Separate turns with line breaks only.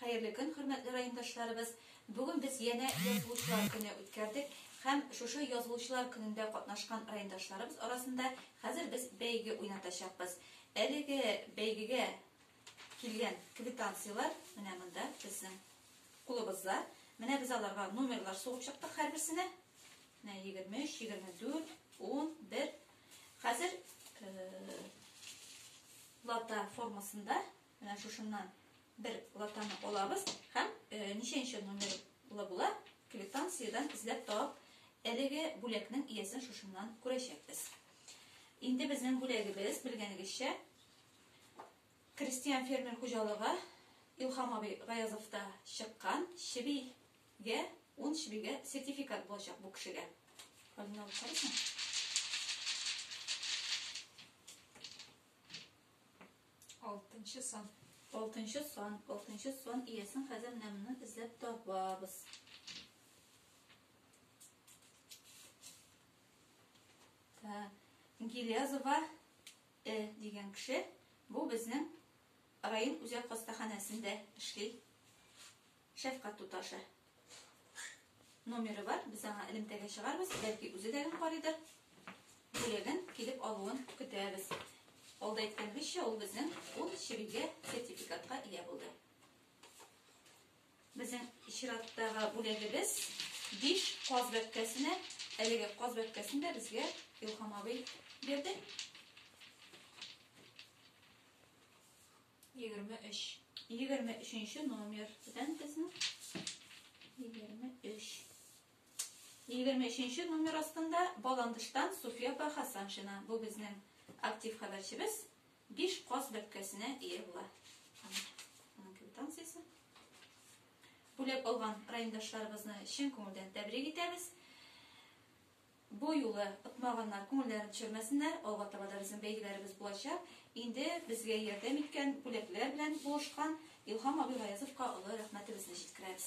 Хәерле көн, хөрмәтле райондашларыбыз! Бүген без янә Язылучылар көне үткәрдек һәм шушы Язылучылар көнендә катнашкан райондашларыбыз арасында хәзер без бәйге уйнатачакбыз. Әлеге бәйгегә килгән квитанцияләр менә монда безнең кулыбызда. Менә без аларга номерлар сугып чыктык һәрберсенә. Менә 23, 24, 10, 1, Хәзер лата формасында менә шушыннан бер латаны алабыз һәм ничәнче номерлы була квитанциядән эзләп табып, әлеге бүләкнең иясен шушыннан күрәчәкбез. Инде безнең бүләгебез, белгәнегезчә, крестьян-фермер хуҗалыгы Илхам абый Гаязовта чыккан чеби Гә, ун чбигә сертификат булачак бу кешегә. Хәлен алып карыйсың? Алтынчы сан. Алтынчы сан, алтынчы сан иясен хәзер менә моны эзләп табабыз. Ә, Гилязова Э дигән кеше, бу безнең район үзәк хастаханәсендә эшли. Шәфкать туташы. Номеры бар, без аңа элемтәгә чыгарбыз, бәлки үзе дә гел карыйдыр. Бүләген килеп алуын көтәбез. Алда әйткәнебезчә, ул безнең ул чебигә сертификатка ия булды. Безнең чираттагы бүләгебез биш каз бәбкәсенә, әлеге каз бәбкәсен дә безгә Илхам абый бирде. Егерме өч. Егерме өченче номер. Бүтән безнең. Егерме өч. Егерме өченче номер астында Баландыштан Суфия Бахасаншина. Бу безнең актив хәбәрчебез. Биш каз бәпкәсенә ие була. Аның квитанциясе. Бүләк алган райондашларыбызны чын күңелдән тәбрик итәбез. Бу юлы отмаганнар, күңелләрен төшермәсеннәр, алга таба да безнең бәйгеләребез булачак. Инде безгә ярдәм иткән, бүләкләр белән булышкан Илһам абый Гаязовка олы рәхмәтебезне җиткерәбез.